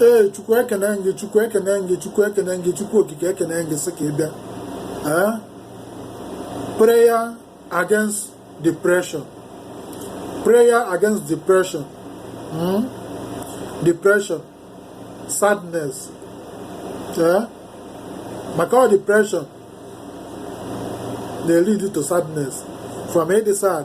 ee chukwu ekene gị chukwu ekene gị chukwu ekene gị chukwu okike ekene gị sị ka ị bịa ee prayer against depression prayer against depression hmm? depression sadness ee maka ọ depression na-lead to sadness from ịdị sad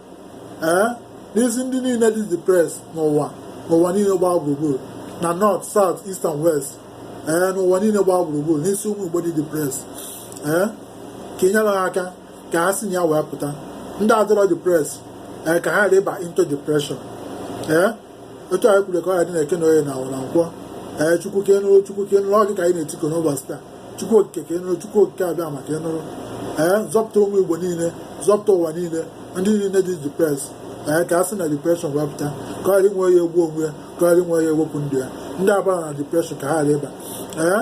ee n'isi ndị niile dị depressed n'ụwa n'ụwa niile gbaa gburugburu na north south east and west ee n'ụwa niile gbaa gburugburu n'isi ụmụ igbo dị depressed ee ka ị nyere ha aka ka ha si na ya wee pụta ndị adịrọ depressed ee ka ha ghara ịba into depression ee otu anyị kwuru ka ọ ya-adị n'eke na oye na afọ na nkwọ ee chukwu ka ị nụrụ chukwu ka ị nụrụ ọ gị ka anyị na-etiku n'ụbọchị taa chukwu okike ka ị nụrụ chukwu okike abịama ka ị nụrụ ee zọpụta ụmụ igbo niile zọpụta ụwa niile ndị niile dị depressed ee ka ha si na depression wee pụta ka ọ ghara inwe ya egbu onwe ya ka ọ ghara inwe ya ewepụ ndụ ya ndị abarọ na depression ka ha ghara ịba ee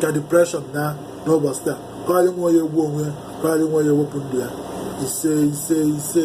ka depression naa n'ụbọchị taa ka ọ ghara inwe ya egbu onwe ya ka ọ ghara inwe ya ewepụ ndụ ya ise ise ise